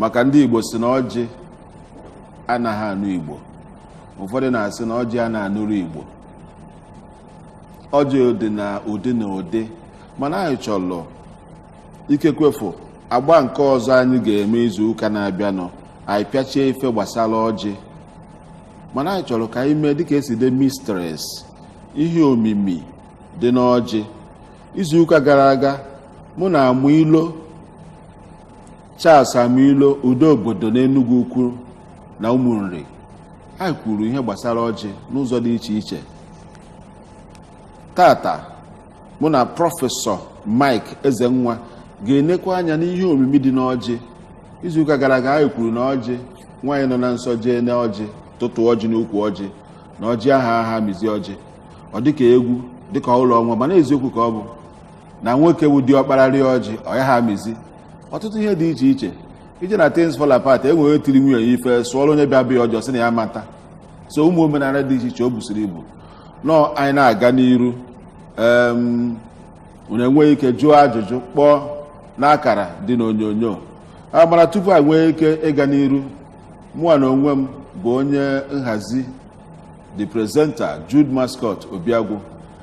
maka ndị Igbo si na ọjị anaghị anụ Igbo ụfọdụ na-asị na ọjị a na-anụrụ Igbo ọjị dị na ụdị na ụdị mana anyị chọrọ ikekwefu agba nke ọzọ anyị ga-eme izu ụka na-abịanụ anyị pịachie ife gbasara ọjị mana anyị chọrọ ka anyị mee dịka a sị the mysteries ihe omimi dị n'ọjị izu ụka gara aga mụ na Amuilo Charles Amuilo udo obodo n'Enugu Ukwu na Ụmụnri anyị kwuru ihe gbasara ọjị n'ụzọ dị iche iche taata mụ na prọfesọ Mike Ezenwa ga-enekwa anya n'ihe omimi dị n'ọjị izuụka gara aga anyị kwuru na ọjị nwaanyị nọ na nsọ jee na ọjị tụtụ ọjị n'ukwu ọjị na ọjị ahụ aha amịzi ọjị ọ dịka egwu dịka ụlọ ọnwa mana eziokwu ka ọ bụ na nwoke wụ diọkpara rịa ọjị ọ ya ha amịzi ọtụtụ ihe dị iche iche i jee na things fall apart enwere tiri nwunye ya ife sụọrọ onye bịa be ya ọjị ọ sị na ya ama ata so ụmụ omenala dị iche iche o busiri ibu nnọọ anyị na-aga n'iru em unu enweghị ike jụọ ajụjụ kpọọ n'akara dị n'onyonyo a mana tupu anyị nwee ike ịga n'iru mụnwa na onwe m bụ onye nhazi the presenter Jude Mascot Obiagwu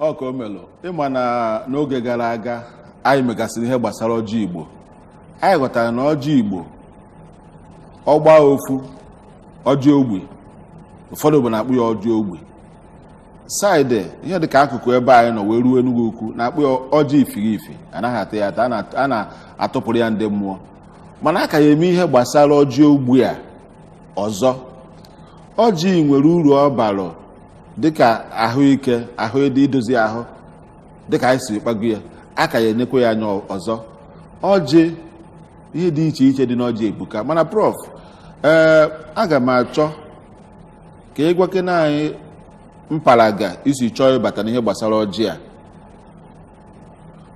Ọkaomelụ ị ma na n'oge gara aga anyị megasịrị ihe gbasara ọjị igbo anyị ghọtara na ọjị igbo ọ gbaa ofu ọjị ogbi ụfọdụ ebe na-akpọ ya ọjị ogbi side ihe dịka akụkụ ebe anyị nọ wee ruo Enugu ukwu na-akpọ ya ọjị ifirifi anaghị ata ya ata a na- a na-atụpụrụ ya ndị mmụọ mana a ka ya eme ihe gbasara ọjị ogbi a ọzọ ọjị nwere uru ọ bara dịka ahụike ahụ ịdị idozi ahụ dịka anyị si kpago ya a ka ya enekwa ya anya ọzọ ọjị ihe dị iche iche dị n'ọjị ebuka mana prof ee aga m achọ ka ị gwakene anyị mpalaga i si chọọ ịbata n'ihe gbasara ọjị a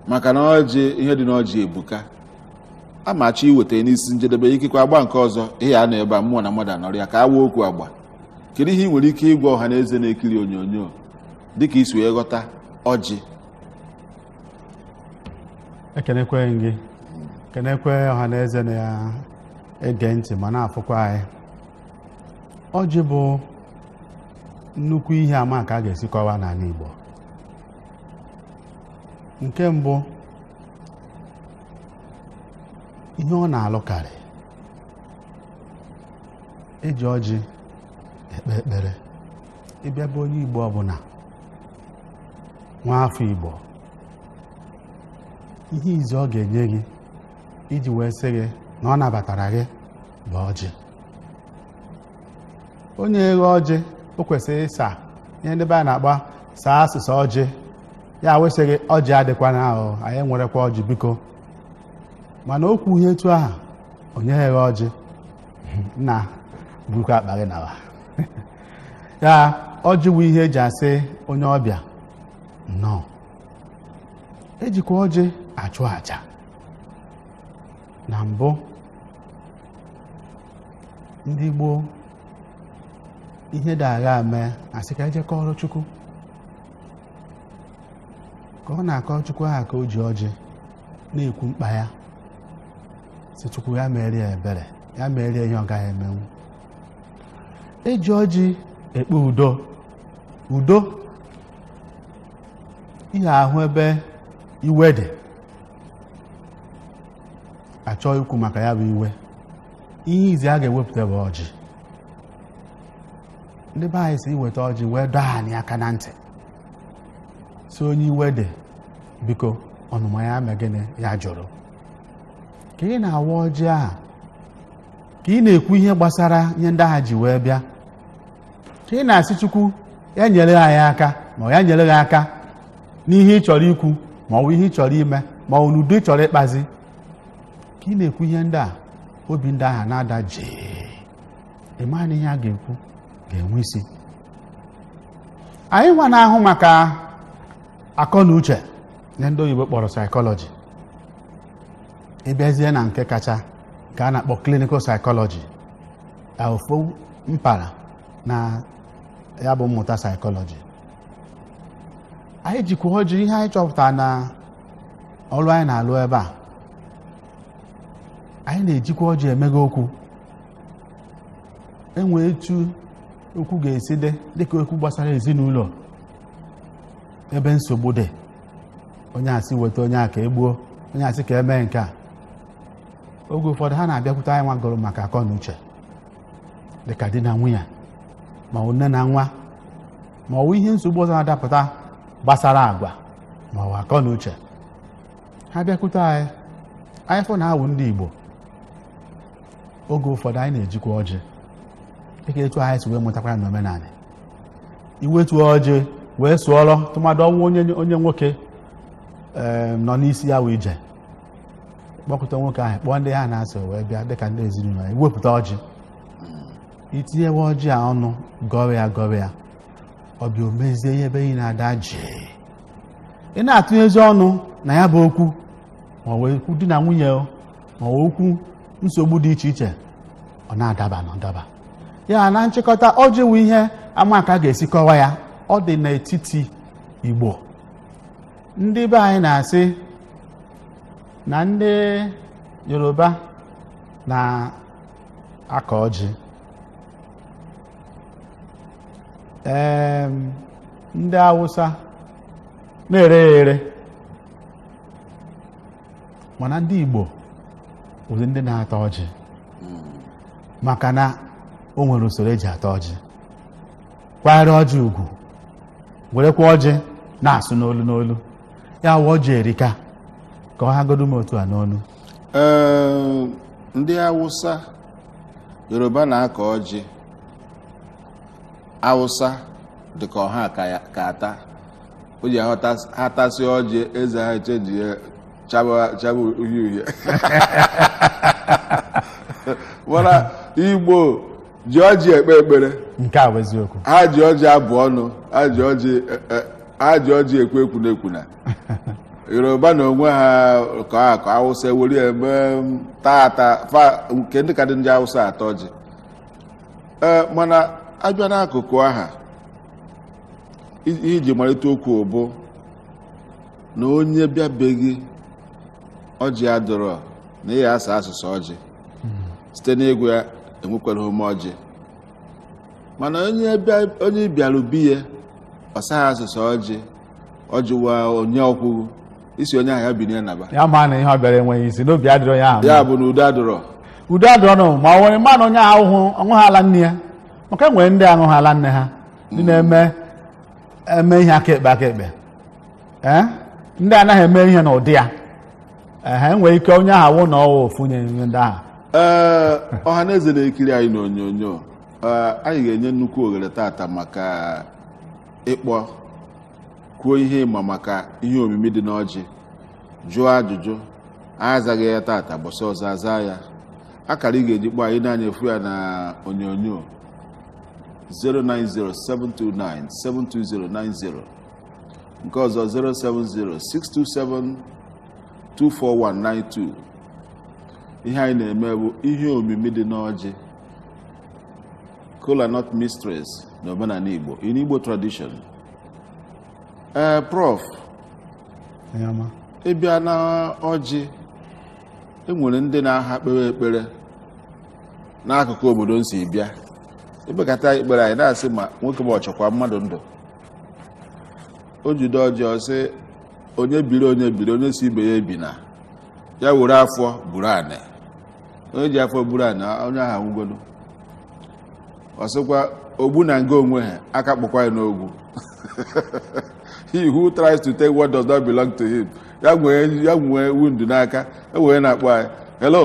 maka na ọjị ihe dị n'ọjị ebuka a ma achọ iweta n'isi njedebe ikekwe agba nke ọzọ ị ya-anọ ebe a mmụọ na mmadụ anọrịa ka a waa okwu agba kedu ihe ị nwere ike ịgwa ọha na eze na-ekiri onyonyo dịka i si wee ghọta ọjị ekenekwe m gị kenekwe ọha na eze na-ege ntị ma na-afụkwa anyị ọjị bụ nnukwu ihe a ma ka a ga-esi kọwaa n'ala Igbo nke mbụ ihe ọ na-alụkarị eji ọjị ekpe ekpere ị bịa be onye igbo ọbụla nwa afọ igbo ihe izi ọ ga-enye gị iji wee sị gị na ọ nabatara gị bụ ọjị onye eghe ọjị o kwesịrị ịsa ihe ndị be anyị na-akpọ ịsa asịsa ọjị ya wee sị gị ọjị adịkwana ahụ anyị nwerekwa ọjị biko mana okwu ihe etu aha onye eghe ọjị nna burukwa akpa gị nawa ya ọjị bụ ihe eji asị onye ọbịa nnọọ ejikwa ọjị achụ aja na mbụ ndị gboo ihe ndị aha mee asị ka eje kọọrọ chukwu ka ọ na-akọrọ chukwu aha ka o ji ọjị na-ekwu mkpa ya si chukwu ya meere ya ebere ya meere ya ihe ọ gaghị emenwu eji ọjị ekpe udo udo ihe ahụ ebe iwe dị achọọ ikwu maka ya bụ iwe ihe izi a ga-ewepụta bụ ọjị ndị be anyị si iweta ọjị wee dọọ anyị aka na ntị si onye iwe dị biko ọnụma ya mee gịnị ya jụrụ ka ị na-awa ọjị ahụ ka ị na-ekwu ihe gbasara ihe ndị aha ji wee bịa ka ị na-asị chukwu ya nyere anyị aka ma ya nyere gị aka n'ihe ị chọrọ ikwu ma ọ bụ ihe ị chọrọ ime ma ọ bụ n'udo ị chọrọ ịkpazi ka ị na-ekwu ihe ndị a obi ndị ahụ na-ada jii ị ma na ihe a ga-ekwu ga-enwe isi anyị nwa na-ahụ maka akọ na uche ihe ndị oyibo kpọrọ psychology ị bịazie na nke kacha ka a na-akpọ clinical psychology ofu mpaghara na ya bụ mmụta psychology anyị jikwa ọjị ihe anyị chọpụtara na ọrụ anyị na-alụ ebe a anyị na-ejikwa ọjị emeghe okwu enwee etu okwu ga-esi dị dịka okwu gbasara ezinụlọ ebe nsogbu dị onye asị weta onye a ka egbuo onye asị ka emee nke a oge ụfọdụ ha na-abịakwute anyị nwa gụrụ maka akọ na uche dịka di na nwunye ma ọ bụ nne na nwa ma ọ bụ ihe nsogbu ọzọ na-adapụta gbasara agwa ma ọ bụ akọ na uche ha bịakwute anyị anyị fụ na awụ ndị Igbo oge ụfọdụ anyị na-ejikwa ọjị dịka etu anyị si wee mụtakwara na omenala iwetu ọjị wee sụọrọ tụmadụ ọ wụ onye onye nwoke eh, nọ n'isi ya wụ ije kpọkọta nwoke ahụ kpọọ ndị ha na ya so wee bịa dịka ndị ezinụlọ ya ị wepụta ọjị i tinyewe ọjị a ọnụ gọwa ya gọwa ya ọ bịa o mezie ihe ebe niile adaa jii ị na-atụnyezi ọnụ na ya bụ okwu ma ọ wụ okwu di na nwunye o, ma ọ wụ okwu nsogbu dị iche iche ọ na-adaba na-adaba ya na nchịkọta ọjị wụ ihe ama ka a ga-esi kọwa ya ọ dị n'etiti igbo ndị be anyị na-asị na ndị yoruba na-akọ ọjị Em, ndị awụsa na-ere ya ere mana ndị igbo bụzi ndị na-ata ọjị maka na o nwere usoro eji ata ọjị kwanyere ọjị ugwu werekwa ọjị na-asụ n'olu n'olu ya wụ ọjị erika ka ọ hagodu m otu a n'olu Ee, ndị awụsa yoruba na-akọ ọjị awụsa dị ka ọ ha ka ya- ka ata ọjị ha tas- ha tasị ọjị eze ha achajie chaba chaba uhie uhie mana igbo ji ọjị ekpe ekpere nke a bụ eziokwu ha ji ọjị abụ ọnụ ha ji ọjị e- e- ha ji ọjị ekwu ekwuna ekwuna yoruba na onwe ha ka a ka awụsa ewere ya mee m, taa ata fa nke ndị ka dị ndị awụsa ata ọjị ee mana abịa n'akụkụ ahụ i- iji malite okwu bụ na onye bịa be gị ọjị adịrọ na ị ya-asa asụsụ ọjị site n'ịgwa ya enwekwarọ m ọjị mana onye bịa- onye bịara be ya ọ saghị asụsụ ọjị ọjị wa onye o kwughị ị sị onye ahụ ya binie naba ya ma na ihe ọ bịara enweghị isi na obi adịrọ ya ahụ ya bụ na udo adịrọ udo adịrọ nụ ma ọ nwere manụ onye ahụ hụ ọ ṅụghị ala nne ya maka e nwere ndị aṅụghị ala nne ha ndị na-eme eme ihe aka ekpe aka ekpe ee ndị anaghị eme ihe n'ụdị ya ehe enwere ike onye ahụ awụ na ọwa ofunye ihe ndị ahụ ee ọha na eze na-ekiri anyị n'onyonyo ee, anyị ga-enye nnukwu ohere tata maka ịkpọ kwuo ihe ị ma maka ihe omimi dị n'ọjị jụọ ajụjụ anyị azaghị ya tata gbọsị ọzọ aza ya akara ị ga-eji kpọọ anyị na-anya efu ya na onyonyo 09072972090 nke ọzọ 07062724192 ihe anyị na-eme bụ ihe omimi dị n'ọjị kola nut mysteries na omenala igbo in igbo tradition ee prof Onye ọma. ị bịa na ọjị enwere ndị na-aha kpere ekpere n'akụkụ obodo m si bịa ekpekata ekpere anyị na-asị ma nwoke ma ọ chọkwa mmadụ ndụ o jide ọjị ọ sị onye biri onye biri onye sị ibe ya ebina ya were afọ buru anị onye ji afọ buru anị onye ahụ anwụgolu ọ sịkwa ogbu na nga o nwehe aka kpọkwa ya n'ogwu he who tries to take what does not belong to him ya nwee ya nwee wound n'aka e nwere onye na-akpọ anyị hello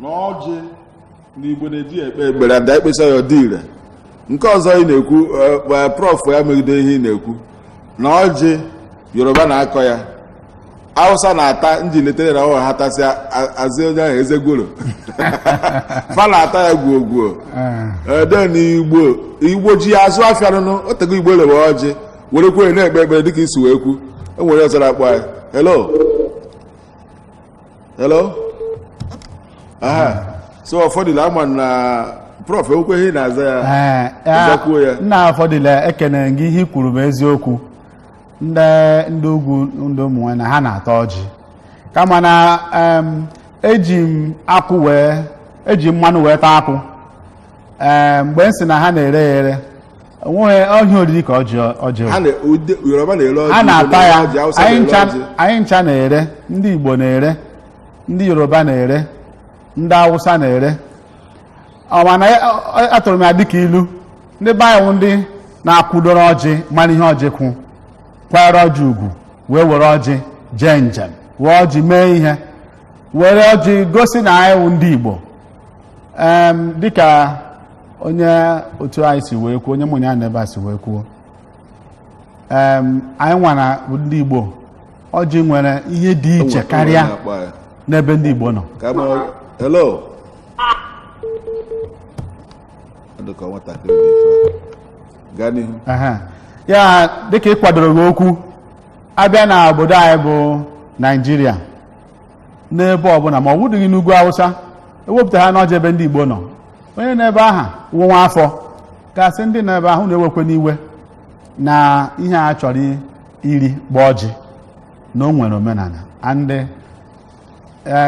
na ọjị na igbo na-eji ekpe ekpere ada ekpesa ya ọ dị ire nke ọzọ ị na-ekwu e, e, prof ya megide ihe ị na-ekwu na ọjị yoruba na-akọ ya hausa na-ata nji letere na ọha ha tasịa azị onye ahụ eze gworo fa na-ata ya gwuo gwuo eh. then na igbo igbo ji ya azụ afịa nụnụ o tego igbo lewe ọjị werekwa ya na-ekpe ekpere dịka i si wee kwu enwere ọzọ na-akpọ ya hello hello aha so Ofodile ama na prof ekwukwe ihe ị na-aza ya Ee, ya- Nzakwuo ya. nna Ofodile ekene gị ihe i kwuru bụ eziokwu ndị ndị ugwu ndị ụmụ nwe na ha na-ata ọjị kama na em, eji m akwụ wee eji mmanụ wee taa akwụ Ee, mgbe m sị na ha na-ere ya ere onweghị ahịa oriri ka ọjị ọjị ha na ode- yoruba na-ere ọjị a na-ata Igbo ya na-ere ọjị, Hausa anyị na-ere ncha ọjị. anyị ncha na-ere ndị igbo na-ere ndị yoruba na-ere ndị awụsa na-ere ọ mana ya- ọ- ọ- atụrụ m ya dịka ilu ndị be anyị wụ ndị na-akwụdoro ọjị mara ihe ọjị wụ kwanyere ọjị ugwu wee were ọjị jee njem were ọjị mee ihe were ọjị gosi na anyị wụ ndị igbo Em, dịka onye otu anyị si wee kwuo onye mụ na ya nọ ebe a si wee kwuo anyị nwara ndị Igbo ọjị nwere ihe dị iche karịa n'ebe ndị Igbo nọ ya dịka ị kwadoro gị okwu a bịa na obodo anyị bụ Naịjirịa n'ebe ọbụla ma ọ wụdịghị n'ugwu awụsa e wepụtahana ọjị ebe ndị igbo nọ onye nọ ebe ahụ wụ nwa afọ ga-asị ndị nọ ebe ahụ unu ewekwene iwe na ihe a chọrọ iri ugbua ọjị na o nwere omenala and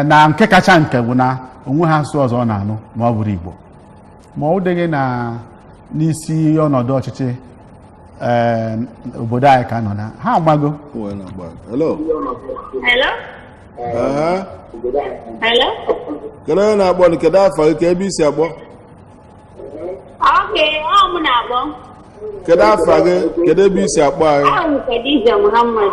na nke kacha nke bụ na o nweghị asụsụ ọzọ ọ na-anụ ma ọ bụrọ igbo ma ọ dịghị na n'isi ọnọdụ ọchịchị eh, obodo anyị ka nọ na ha agbago Well, na gbaa. Hello. Hello? Ee, Hello? kedu onye na-akpọ nụ? kedu afa gị kee ebe i si akpọ Okay, ọ mụ na-akpọ. kedu afa gị kedu ebe i si akpọ anyị Awụ m Khadija Muhammad.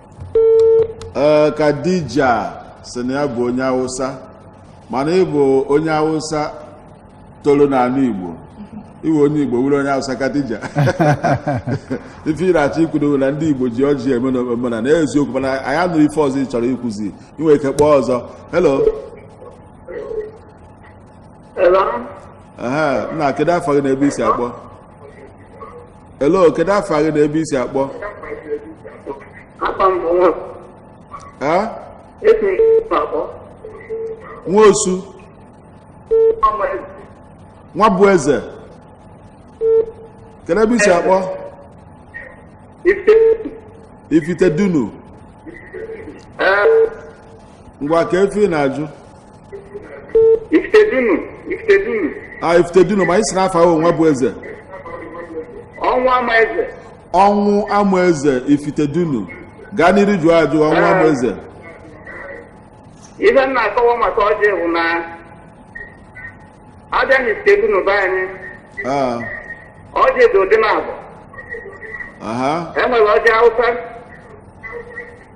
ee eh, Khadija sị na ya bụ onye awụsa mana ị bụ onye awụsa toro n'ala igbo ị wụ onye igbo wụrụ onye awụsa Khadija ife ị na-achọ ikwudo wụ na ndị igbo ji ọjị eme omenana eziokwu mana anyị anụrọ ife ọzọ ị chọrọ ikwuzi i nwe ike kpọọ ọzọ helo nna kedu afa gị na ebe i si akpọ elo kedu afa gị na ebe i si akpọ nwosu nwabụeze kedu ebe i si akpọ ifitedunu ngwa kee ife ị na-ajụ Ifitedunu, Ifitedunu, a ifitedunu ma ị sị na afa ị wụ nwabụeze ọnwụamaeze. ọnwụamaeze ifitedunu gaa n'iru jụọ ajụ ọnwụamaeze Ife m na-akọwa maka ọjị bụ na a bịa na Ifitedunu be anyị, Ah, ọjị dị ụdị naabọ. aha E nwere ọjị Hausa,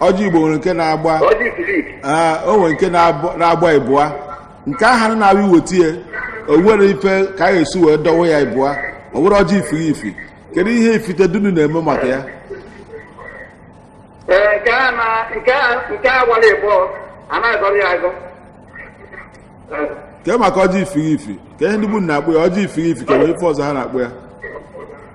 ọjị igbo nwere nke na-agba ọjị ifilifi ee o nwere nke na-abụ- na-agba ịbụa nke ahụ na-abụ i weta ya o nwerọ ife ka a ga-esi wee dọwa ya ịbụa ọ wụrụ ọjị ifirifi kedu ihe ifitedunu na-eme maka ya ee nke a na nke a nke a gbara ịbụa anaghị agọrọ ya agọ kee maka ọjị ifirifi kee ihe ndị be unu na-akpọ ya ọjị ifirifi ka e nwere ife ọzọ ha na-akpọ ya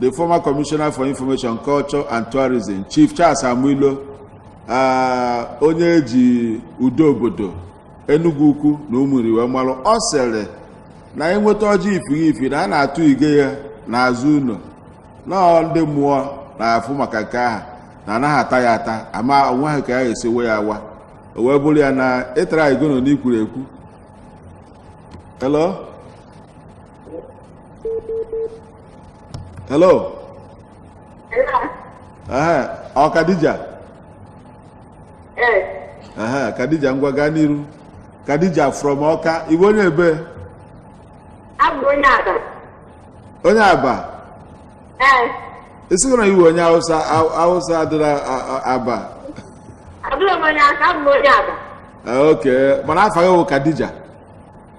the former commissioner for information culture and tourism chief charles amuilo uh, onye eji udo obodo enugwu ukwu na ụmụnri wee malụ ọ sịrị na enweta ọjị ifiri ifi na a na-atụ ige ya n'azụ ụlọ na ndị mmụọ na-afụ maka nke ahụ na anaghị ata ya ata ama onwe ha ka ya ga-esi we ya awa o wee bụrụ ya na ịtara igono n'ikwuru ekwu hello hello ehe ọ kadija ehe kadija ngwa gaa n'iru kadija from ọka ị wụ onye ebe onye aba ị sịghị na ị wụ onye awụsa awụsa adịla aba ok mana afa gị wụ kadija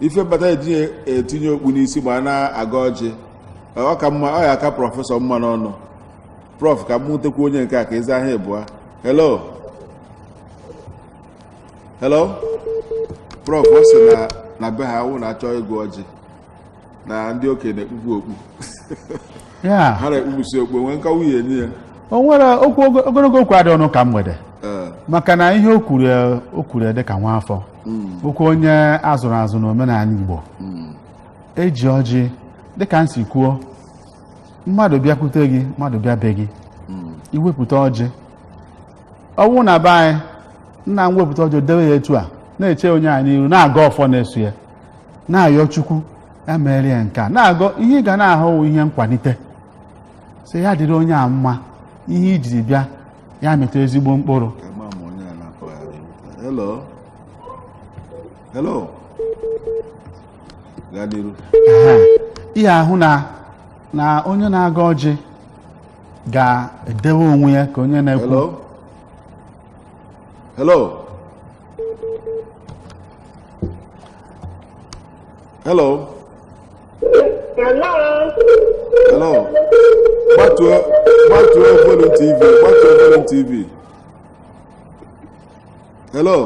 ife kpata eji etinye okpu n'isi ma a na-agọ ọjị ọ ka mma ọ ya-aka prọfesọ mma n'ọnụ prọf ka m nwutekwu onye nke a ka ị zaa ha ịbụa hello hello prọf ọ sị na na be ha ọ wụ na a chọọ ịgọ ọjị na ndị okenye na-ekpupụ okpu ya ha na-ekpupụsị okpu nwee nkọwa ị na-enye ya o nwere okwu ogologo okwu adịrọ n'ụka mgbede Ee. maka na ihe o kwuru ya- o kwuru ya dị ka nwa afọ hmm. bụkwa onye azụrụ azụ na omenala Igbo hmm. eji ọjị dịka m si kwuo mmadụ bịakwute gị mmadụ bịa be gị hmm. iwepụta ọjị ọ wụ na be anyị nna m wepụta ọjị dewe ya etu a na-eche onye a n'iru na-agọ ọfọ na-eso ya na-ayọ Chukwu ya meere ya nke a na-agọ ihe ọganihu ihe nkwalite sị ya dịrị onye a mma ihe i jiri bịa ya mịta ezigbo mkpụrụ Ema m onye a na-akpọ ya. Hello. Hello. Gaa n'iru. Aha. ihe ahụ na na onye na-agọ ọjị ga-edewe onwe ya ka onye na-ekwu Hello. Hello. Hello. Hello. Gbatuo gbatuo volume TV gbatuo volume TV. Hello.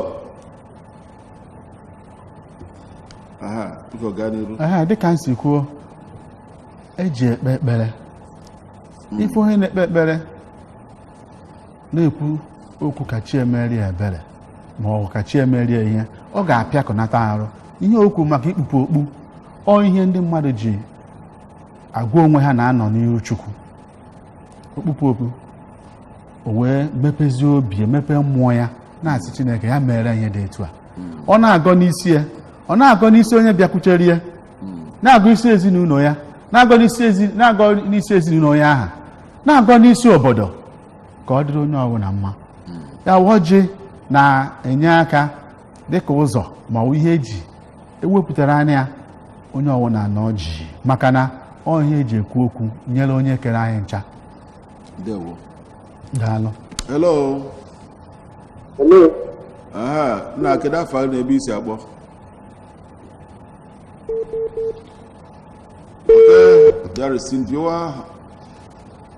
Aha, biko gaa n'iru. Aha, dịka m si kwuo, eji ekpe ekpere. Ife onye na-ekpe ekpere na-ekwu okwu ka chi ya meere ya ebere ma ọ bụ ka chi ya meere ya ihe ọ ga-apịakọnata arụ ihe okwu maka ikpupụ okpu ọ ihe ndị mmadụ ji agwa onwe ha na a nọ n'ihu chukwu o kpupụ okpu o wee mepezie obi ya mepee mmụọ ya na-asị chineke ya mere ihe dị etu a ọ na-agọ n'isi ya ọ na-agọ n'isi onye bịakwutere ya na-agọ isi ezinụlọ ya na-agọ n'isi ezi- na-agọ n'isi ezinụlọ ya aha na-agọ n'isi obodo ka ọ dịrị onye ọbụla mma ya bụ ọjị na-enye aka dịka ụzọ ma ọ bụ ihe eji ewepụtara anya onye ọbụla na ọjị maka na ọ ihe eji ekwu okwu nyere onye kere anyị ncha ndewo daalụ hello Hello, aha nna kedu afa gị na ebe i si akpọ Okay, there is Cynthia.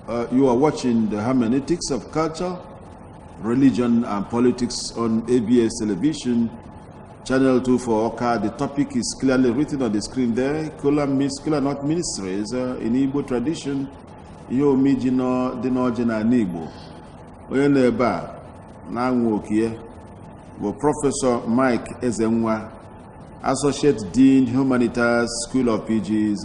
Uh, you are watching the hermeneutics of culture, religion, and politics on ABS television, channel 2 for Oka. The topic is clearly written on the screen there. Kola means Kola not ministries uh, in Igbo tradition. Yo mi jino dino jina Igbo. Onye na ebe a na anwụ okie bụ Prọfesọ Mike Ezenwa, Associate Dean Humanitas School of PGs.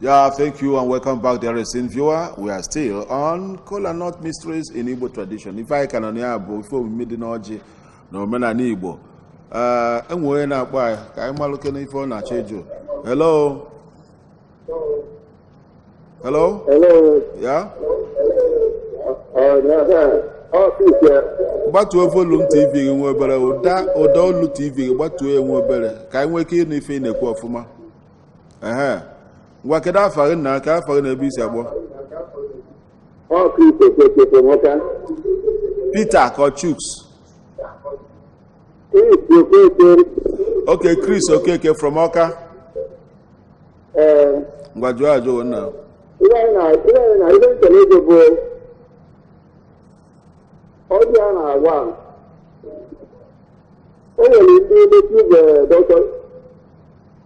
Yeah, thank you and welcome back, dear esteemed viewer. We are still on Kola Nut Mysteries in Igbo tradition. Ife anyị ka nọ na ya bụ ife omimi dị n'ọjị na omenanị Igbo. Eh, e nwe onye na-akpọ anyị ka anyị malụkene ife ọ na-achọ ịjụ. Hello? Hello? Hello? Yeah? Gbatuo volume TV gị nwa obere, ụda olu TV gị gbatuo ya nwa obere ka anyị nwee ike ịnụ ife ị na-ekwu ọfụma. ehe ngwa kedu afa gị nna kedu afa gị na ebe i si akpọ Peter Chuks okay Chris Okeke from Ọka ngwa jụọ ajụjụ nna ọjị a na-agwa o nwere ndị native doctor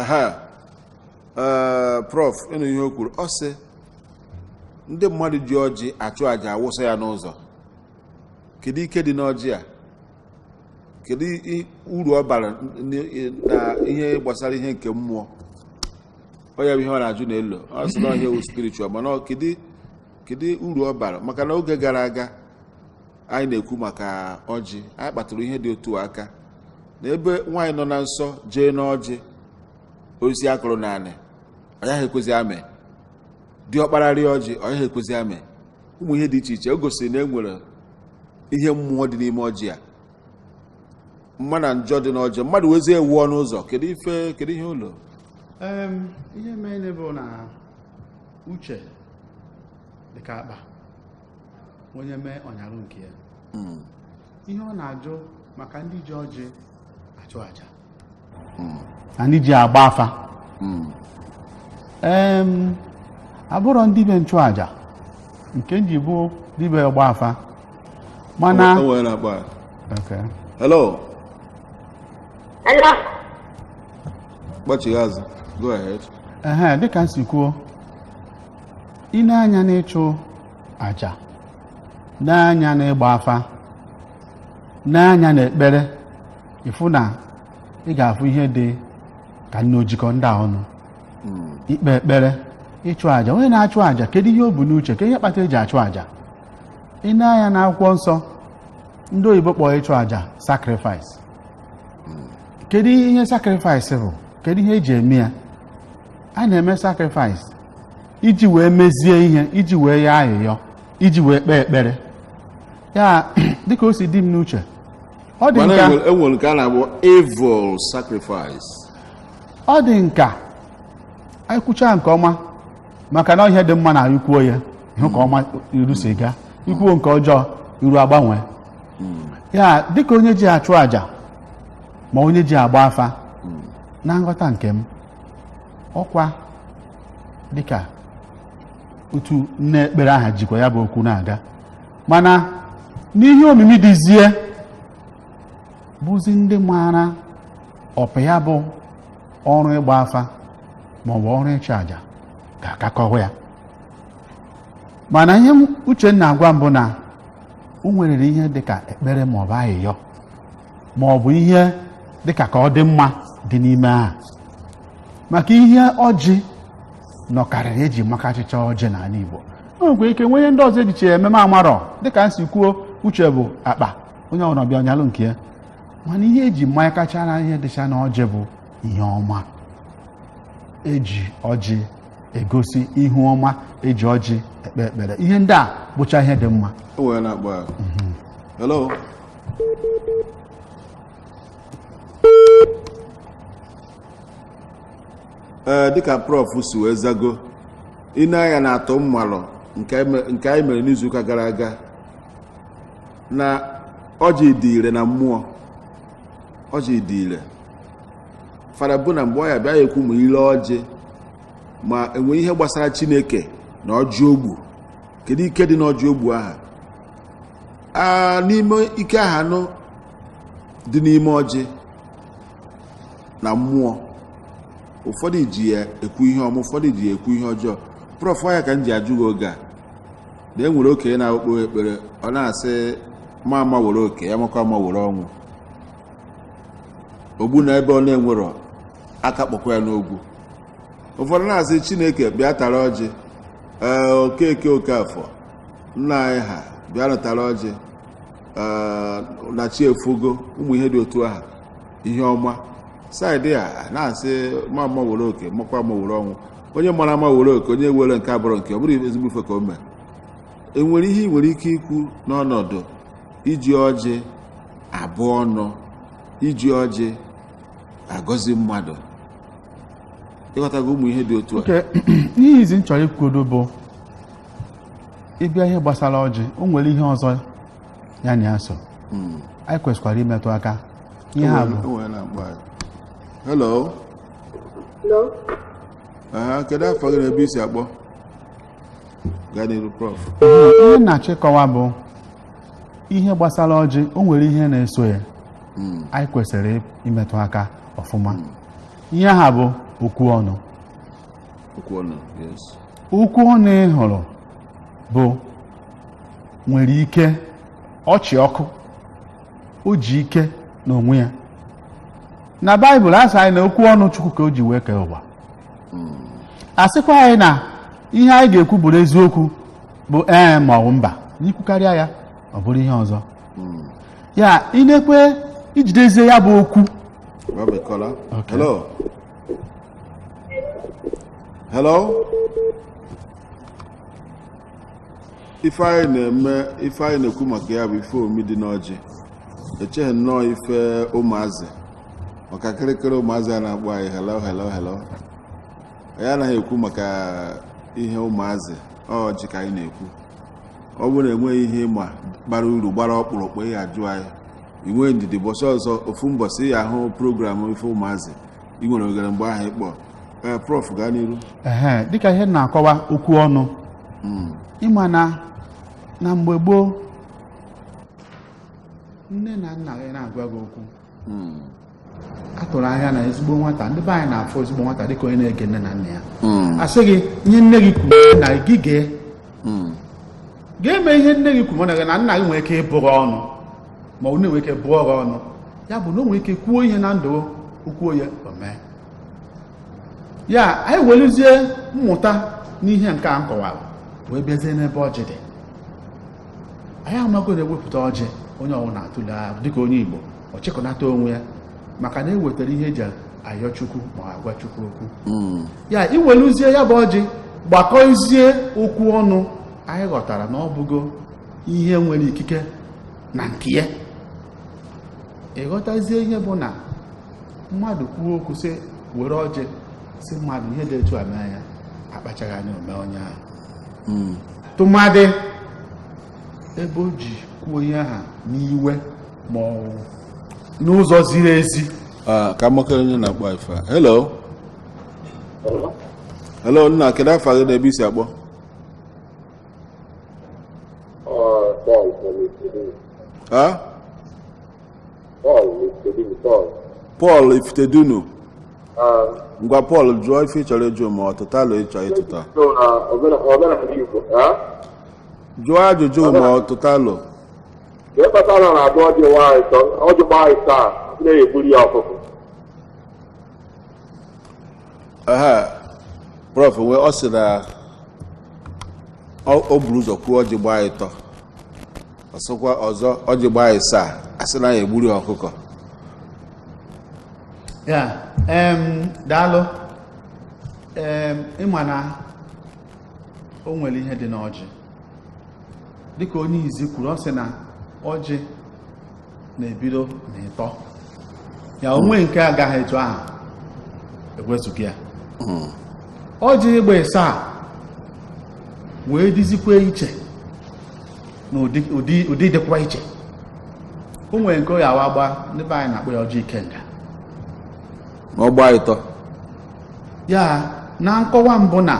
aha eh, prof ị nụ ihe o kwuru ọ sị ndị mmadụ ji ọjị achụ àjà awụsa ya n'ụzọ kedu ike dị n'ọjị a kedu uru ọ bara na ihe gbasara ihe nke mmụọ ọ ya bụ ihe ọ na-ajụ na elo ọ sị na ọ ihe wụ spiritual mana kedu kedu uru ọ bara maka na oge gara aga anyị na-ekwu maka ọjị anyị kpatụrụ ihe dị otu a aka na ebe nwaanyị nọ na nsọ jee n'ọjị osisi a kụrụ n'anị ọ yaghị ekwezi amị diọkpara rịa ọjị ọ yaghị ekwezi amị ụmụ ihe dị iche iche o gosiri na e nwere ihe mmụọ dị n'ime ọjị a mma na njọ dị n'ọjị mmadụ wezie wụọ n'ụzọ kedu ife kedu ihe ụlọ Em, ihe mere bụ na uche dị ka akpa onye mee ọ nyarụ nke ya hmm. ihe ọ na-ajụ maka ndị ji ọjị achụ aja hmm. na ndị ji agba afa hmm. abụrọ m dibe nchụaja nke m ji bụ dibe ọgba afa mana hello kpọchigha azụ go ahead ehe dịka m si kwuo i nee anya n'ịchụ aja nee anya n'ịgba afa nee anya n'ekpere ị fụ na ị ga-afụ ihe dị ka na o jikọ ndị a ọnụ ikpe ekpere ịchụ aja onye na-achụ aja kedu ihe o bu n'uche kee ihe kpata eji achụ aja i nee anya n'akwụkwọ nsọ ndị oyibo kpọrọ ịchụ aja sacrifice kedu ihe sacrifice bụ kedu ihe eji eme ya a na-eme sacrifice iji wee mezie ihe iji wee yọọ ayịyọ iji wee kpee ekpere ya dịka o si dị m n'uche ọ dị m ka enwere nke a na-akpọ evil sacrifice ọ dị m ka anyị kwuchaa nke ọma maka na ihe dị mma na anyị kwuo ya i kwuo nke ọma iru si gaa i kwuo nke ọjọọ iru agbanwee ya dịka onye ji achụ àjà ma onye ji agba afa na nghọta nke m ọkwa dịka otu nne ekpere aha jikwa ya bụ okwu na-aga mana n'ihe omimi dịzi ya bụzi ndị maara ọpa ya bụ ọrụ ịgba afa maọbụ ọrụ ịchụ àjà ga-aka akọwa ya mana ihe m- uche na-agwa m bụ na o nwerịrị ihe dịka ekpere maọbụ ayịyọ maọbụ ihe dịka ka ọ dị mma dị n'ime ahụ maka ihe ọjị nọkarịrị eji maka achịcha ọjị n'ala Igbo o nwekwa ike nwee ihe ndị ọzọ ejiche eme m amarọ dịka m si kwuo uche bụ akpa onye ọbụla bịa ọ nyalụ nke ya mana ihe eji ma ya kachara ihe dịcha na ọjị bụ ihe ọma eji ọjị egosi ihu ọma eji ọjị ekpe ekpere ihe ndị a bụcha ihe dị mma o wee na-akpọ ya hello ee dịka prof si wee zago i nee anya na atụmalo nke anyị me- nke anyị mere n'izuụka gara aga na ọjị dị ire na mmụọ ọjị dị ire fada bụ na mgbe ọ ya bịa ya ekwu ma ile ọjị ma enwe ihe gbasara chineke na ọjị ogbu kedu ike dị n'ọjị ogbu aha a n'ime ike aha nụ dị n'ime ọjị na mmụọ ụfọdụ ji ya ekwu ihe ọma ụfọdụ ji ya ekwu ihe ọjọọ prọf ya ka m ji ajụ gị oge a na e nwere okenye na-akpọ ekpere ọ na-asị ma ama were oke ya makwa ama were ọnwụ ogbu na ebe ọ na-enwerọ aka kpọkwa ya n'ogwu ụfọdụ na-asị chineke bịa tara ọjị ee okeke okafọ nna anyị ha bịanụ tara ọjị ee na chi efogo ụmụ ihe dị otu aha ihe ọma saịdị a na-asị ma ama were oke makwa ama were ọnwụ onye mara ama were oke onye were nke abụrụ nke ọ bụrụ ezigbo ife ka o mee enwere ihe ị nwere ike ikwu n'ọnọdụ iji ọjị abụ ọnụ iji ọjị agọzi mmadụ ịghọtago ụmụ ihe dị otu a ihezi m chọrọ ikwudo bụ ị bịa ihe gbasara ọjị o nwere ihe ọzọ ya na ya so anyị kwesịkwara imetụ aka ihe aha bụ Enwere- enwere na-akpọ anyị. hello kedu afa gị na ebe i si akpọ ihe m na-achọ ịkọwa bụ ihe gbasara ọjị o nwere ihe na-eso ya hmm. anyị kwesịrị imetụ aka ọfụma hmm. ihe aha bụ okwu ọnụ okwu ọnụ ị hụrụ bụ nwere ike ọ chị ọkụ o ji ike n'onwe ya na baịbụl a sị anyị na okwu ọnụ chukwu ka o ji wee kee ụwa a sịkwa anyị na ihe anyị ga-ekwu bụrụ eziokwu bụ ee ma ọ bụ mba na i kwukarịa ya ọ bụrụ ihe ọzọ ya inekwe ijidezie ya bụ okwu We have a caller. Okay. Hello. Hello. ife anyị na-eme ife anyị na-ekwu maka ya bụ ife omi dị n'ọjị echeghị m na ọọ ife ụmụazị maka kịrịkịrị ụmụazị a na-akpọ anyị hello hello hello anyị anaghị ekwu maka ihe ụmụazị ọjị ka anyị na-ekwu ọ bụrụ na enweghị ihe ị ma bara uru gbara ọkpụrụkpụ ị ya-ajụ anyị i nwee ndidi mbọsị ọzọ ofu mbọsị ị ya-ahụ program ife ụmụazị ị nwere oghere mgbe ahụ ị kpọọ ee prof gaa n'iru ehe dịka ihe m na-akọwa okwu ọnụ ị ma na na mgbe gboo nne na nna gị na-agwa gị okwu a tụrụ anya na ezigbo nwata ndị be anyị na-afụ ezigbo nwata dịka onye na-ege nne na nna ya a sị gị ihe nne gị kwuru na gị gee ga-eme ihe nne gị kwuru ma nne na nna gị nwere ike ịbụ gị ọnụ ma ọ na-enwe ike bụọ gị ọnụ ya bụ na o nwere ike kwuo ihe na ndụ o kwuo ya o mee ya anyị welizie mmụta n'ihe nke a m kọwara wee bịazie n'ebe ọjị dị anyị amago na e wepụta ọjị onye ọwụna atụle ahụ dịka onye Igbo ọ chịkọnata onwe ya maka na e wetara ihe e ji ayọ Chukwu ma agwa Chukwu okwu ya i weluzie ya bụ ọjị gbakọzie okwu ọnụ anyị ghọtara na ọ bụgo ihe nwere ikike na nke ya ị ghọtazie ihe bụ na mmadụ kwuo okwu sị were ọjị sị mmadụ ihe dị etu a mee ya akpachaghị anya o mee onye ahụ hmm. tụmadị ebe o ji kwuo ihe ahụ n'iwe ma ọ wụ n'ụzọ ziri ezi ah, ka m makere onye na-akpọ ife a hello hello nna kedu afa gị na ebe i si akpọ Paul Ifitedunu ngwa Paul jụọ ife ị chọrọ ịjụ ma ọ tụta alo ị chọ ịtụta jụọ ajụjụ ma ọ tụta alo ihe kpatara na abụọ dị nwaanyị ọjị gbaa ịsaa na-egbuli ya ọkụkọ aha prof wee ọ sị na o buru ụzọ kwuo ọjị gbaa ịtọ ọ sịkwa ọzọ ọjị gbaa ịsaa a sị na ya egburu ya ọkụkọ ya daalụ ị ma na o nwere ihe dị n'ọjị dịka onye izi kwuru ọ sị na ọjị na-ebido na ịtọ ya o nwe nke agaghị etu ahụ egwezughị ya hmm. ọjị gba ịsaa wee dịzikwa iche na ụdị dịkwa iche o nwere nke ya awa gba ndị be anyị na-akpọ ya ọjị ikenga ma ọ gbaa ịtọ ya na nkọwa m bụ na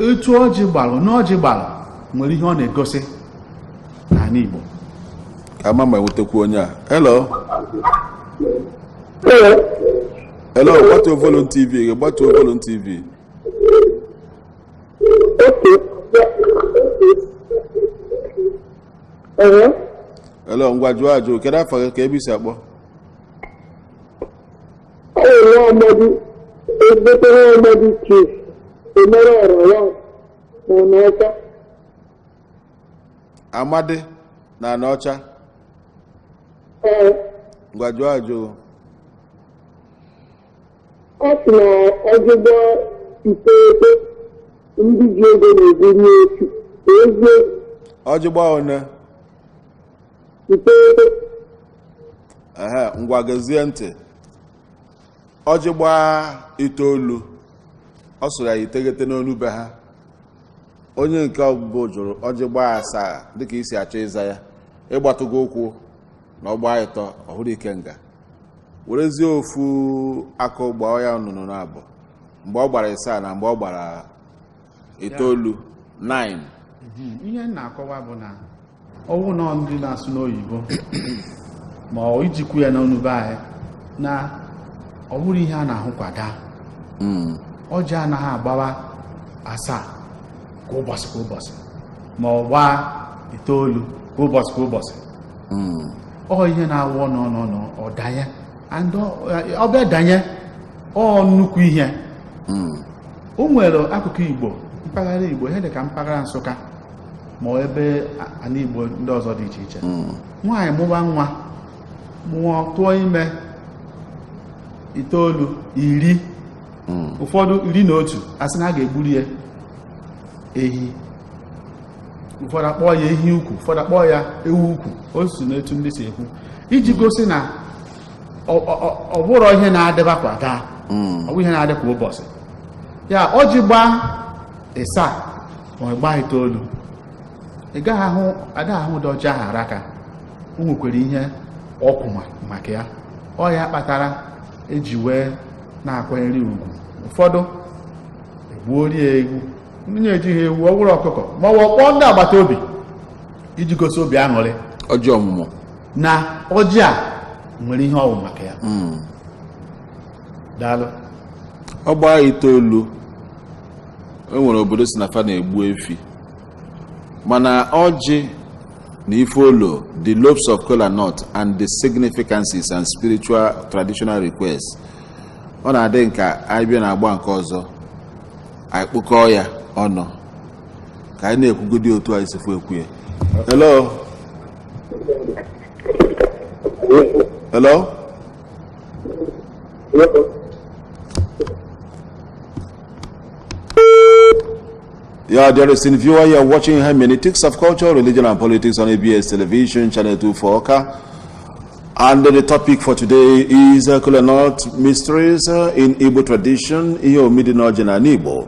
etu ọjị gbalụ na ọjị gbalụ nwere ihe ọ na-egosi n'ala Igbo ka a ma ma e nwetakwu onye a hello hello gbatuo volume TV gị gbatuo volume TV hello ngwa jụọ ajụ kedu afa gị kee ebe i si akpọ Ezigbo nwa amadi Chief Emere Ọrọwa na n'aka amadị na anaọcha ee ngwa jụọ ajụ ọ sị na ọjị gbaa iteghete ndị ji ego na-ebunye otu ka ezie ọjị gbaa one iteghete ehe ngwa gezie ntị ọjị gbaa itoolu ọ sụrụ ya iteghete n'onu be ha onye nke mbụ jụrụ ọjị gbaa asaa dịka i si achọ ịza ya ị gbatụgo ụkwụ na ọ gbaa ịtọ ọ wụrụ ikenga werezie ofu akụ gbaa ya nnụnụ na abụọ mgbe ọ gbara ịsaa na mgbe ọ gbara itoolu 9 Mhm. ihe m na-akọwa bụ na ọ wụ na ndị na-asụ n'oyibo ma ọ ijikwu ya n'ọnụ be anyị na ọ bụrọ ihe a na-ahụ kwa daa Mm. ọjị anaghị agbawa asaa kwa ụbọchị kwa ụbọchị ma ọ gbaa itoolu kwa ụbọchị kwa ụbọchị Mm. ọ ihe na-awụ ọ nọọ ọ nọọ ọ nọọ ọ danye and ọ- ọ bịa danye ọ nnukwu ihe Mm. o nwere akụkụ igbo mpaghara igbo ihe dị ka mpaghara nsụka ma ebe ana igbo ndị ọzọ dị iche iche hmm. nwaanyị mụba nwa mụọ tụọ ime itoolu iri hmm. ụfọdụ iri na otu a sị na a ga-egburu ya ehi ụfọdụ akpọọ ya ehi ukwu ụfọdụ akpọọ ya ewu ukwu o si n'etu ndị si ekwu iji gosi na Ọ- ọ- ọ- ọ bụrọ ihe na-adịba kwa daa ọ bụrọ ihe na-adị kwa ụbọchị ya ọjị gbaa ịsaa ma ọ gbaa itoolu ị gaghị ahụ ada ahụ ụdị ọjị ahụ araka o nwekwara ihe ọ kwụ ma- maka ya ọ ya kpatara e ji wee na-akwanyere ya ugwu ụfọdụ egbuorie ewu onye ejighị ewu ọ bụrụ ọkụkọ ma ọ bụ ọ kpọọ ndị agbata obi iji gosi obi aṅụrị ọjị ọmụmụ na ọjị a nwere ihe ọ wụ maka ya hmm. daalụ ọ gbaa itoolu e nwere obodo sị na fa na-egbu efi mana ọjị na ife olo the lobes of kola nut and the significances and spiritual traditional requests ọ na-adị m ka anyị bịa na agba nke ọzọ anyị kpokọọ ya ọnụ ka anyị na-ekwugodi otu anyị si fụ ekwu ya hello hello Yeah, dear listening viewer you are watching hermeneutics of culture, religion, and politics on ABS television, channel 24 Awka. And the topic for today is uh, Kolanut Mysteries uh, in Igbo tradition, ihe omimi dị n'ọjị n'ana Igbo.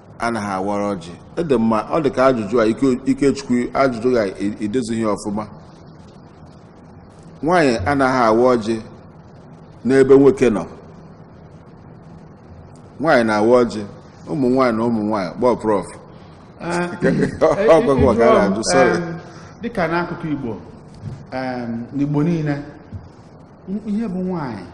anaghị awara ọjị ọ dị mma ọ dị ka ajụjụ a ikechukwu ajụjụ a edozighị ọfụma nwaanyị anaghị awa ọjị n'ebe nwoke nọ nwaanyị na-awa ọjị ụmụ nwaanyị na ụmụ nwaanyị gbaa prof ah, ọgwụgwụ ọga na-ajụ sọrị dịka n'akụkụ igbo n'igbo niile ihe bụ nwaanyị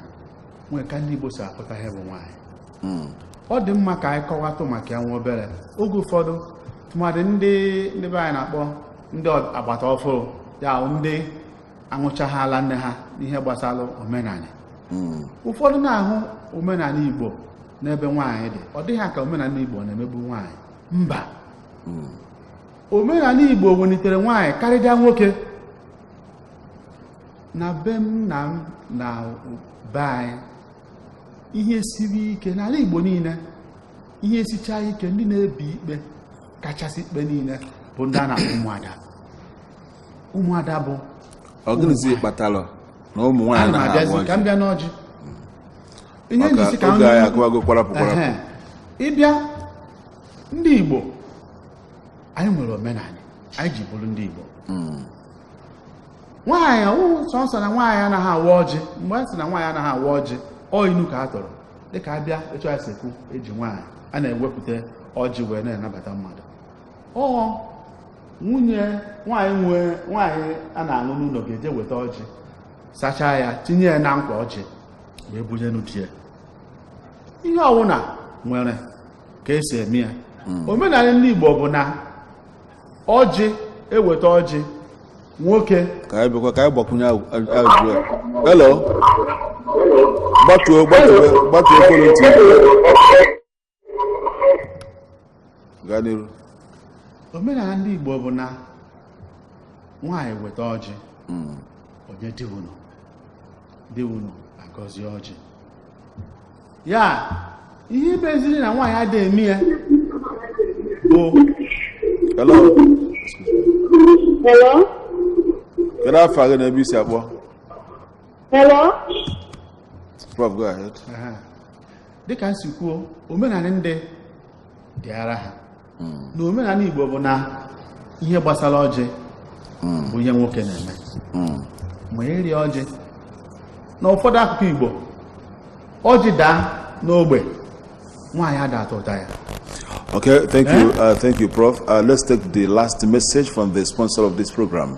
nwere ka ndị igbo si akpụta ihe bụ nwaanyị hmm. ọ dị mma ka anyị kọwatụ maka ya nwa obere oge ụfọdụ tụmadị ndị ndị be anyị na-akpọ ndị agbata ọfụrụ ya ndị aṅụchaghị ala nne ha n'ihe gbasara omenala hmm. ụfọdụ na-ahụ omenala Igbo n'ebe nwaanyị dị ọ dị ha ka omenala Igbo na-emegbu nwaanyị mba hmm. omenala Igbo welitere nwaanyị karịa nwoke na be m na m na be anyị ihe siri ike n'ala Igbo niile ihe sichaa ike ndị na-ebi ikpe kachasị ikpe niile bụ ndị a na-akpọ ụmụada ụmụada bụ ọ gịnịzi kpatara na ụmụ nwaanyị na-abịazi ka m bịa n'ọjị ihe m ji sị ka ị bịa ndị Igbo anyị nwere omenala anyị ji bụrụ ndị Igbo hmm. nwaanyị ọ wụ sọsọ na nwaanyị anaghị awa ọjị mgbe a sị na nwaanyị anaghị awa ọjị ọ inu ka a tụrụ dịka a bịa etu a si ekwu e ji nwaanyị a na-ewepụta ọjị wee na-anabata mmadụ ọ nwunye nwaanyị nwe nwaanyị a na-alụ n'ụlọ ga-eje weta ọjị sachaa ya tinye ya na nkwa ọjị wee bunyenụ di ya ihe ọwụna nwere ka e si eme ya omenala ndị Igbo bụ na ọjị e weta ọjị nwoke ka anyị bịakwa ka anyị gbakwunye ajụjụ a hello gbatuo gbatuo gbatuo ekwentị gaa n'iru omenala ndị igbo bụ na nwaanyị weta ọjị hmm. o nye di ụnọ di ụnọ agọzie ọjị ya ihe meziri na nwaanyị ada eme ya bụ hello Hello? kedu afa gị na ebe i si akpọ Hello? prof go ahead Aha. dịka m si kwuo omenala ndị dịara ha na omenala Igbo bụ na ihe gbasara ọjị bụ ihe nwoke na-eme ma eri ọjị na ụfọdụ akụkụ Igbo ọjị daa n'ogbe nwaanyị ada atụụta ya Okay, thank you, eh? uh, thank you, Prof. Uh, let's take the last message from the sponsor of this program.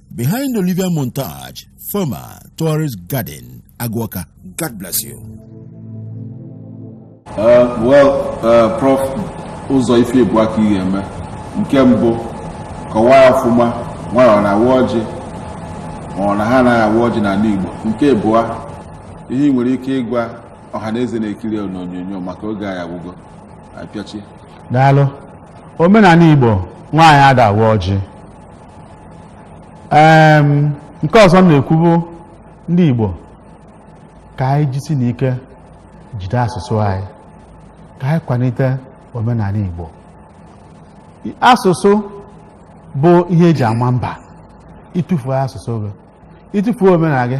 Behind Olivia Montage, former Tourist Garden, Agu-Awka. God bless you. Uh, well, uh, Prof. ụzọ ife ịbụa ka ị ga-eme nke mbụ kọwaa ya ọfụma nwanyị ọ na-awa ọjị ma ọ na ha anaghị awa ọjị n'ala Igbo nke abụọ ihe ị nwere ike ịgwa ọha na eze na-ekiri ya n'onyonyo maka oge anyị agwụgo a pịachie daalụ omenanị Igbo nwaanyị ada awa ọjị Em, nke ọzọ m na-ekwu bụ ndị Igbo ka anyị jisi n'ike jide asụsụ anyị ka anyị kwanite omenanị Igbo I- asụsụ bụ ihe eji ama mba ị tụfuo asụsụ gị ị tụfuo omenanị gị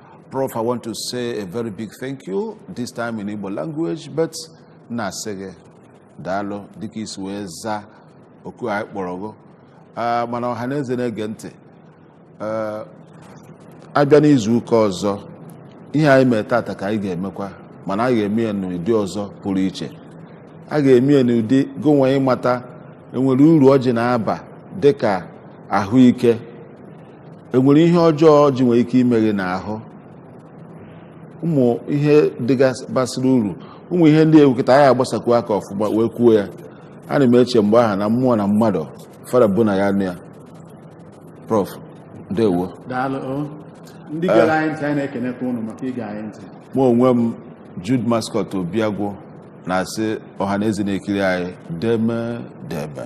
Prof, I want to say a very big thank you, this time in Igbo language, but na-asị gị daalụ dịka i si wee zaa oku anyị kpọrọ gụ Ah, mana ọha na eze na-ege ntị Ah, a bịa n'izu ụka ọzọ ihe anyị mere tata ka anyị ga-emekwa mana a ga-eme ya n'ụdị ọzọ pụrụ iche a ga-eme ya n'ụdị gụnwa ịmata enwere uru ọjị na-aba dịka ahụike enwere ihe ọjọọ ọjị nwere ike ime gị n'ahụ ụmụ ihe ndị a basịrị uru ụmụ ihe ndị ewukịta anyị agbasakwu aka ọfụma wee kwuo ya ana m eche mgbe ahụ na mmụọ na mmadụ fara bụ na ya-anụ ya prof ndewo daalụ o. ndị gere anyị ntị anyị na-ekenekwa ụnụ maka ige anyị ntị mụ onwe m Jude Mascot Obiagwụ na-asị ọha na eze na-ekiri anyị deeme deeme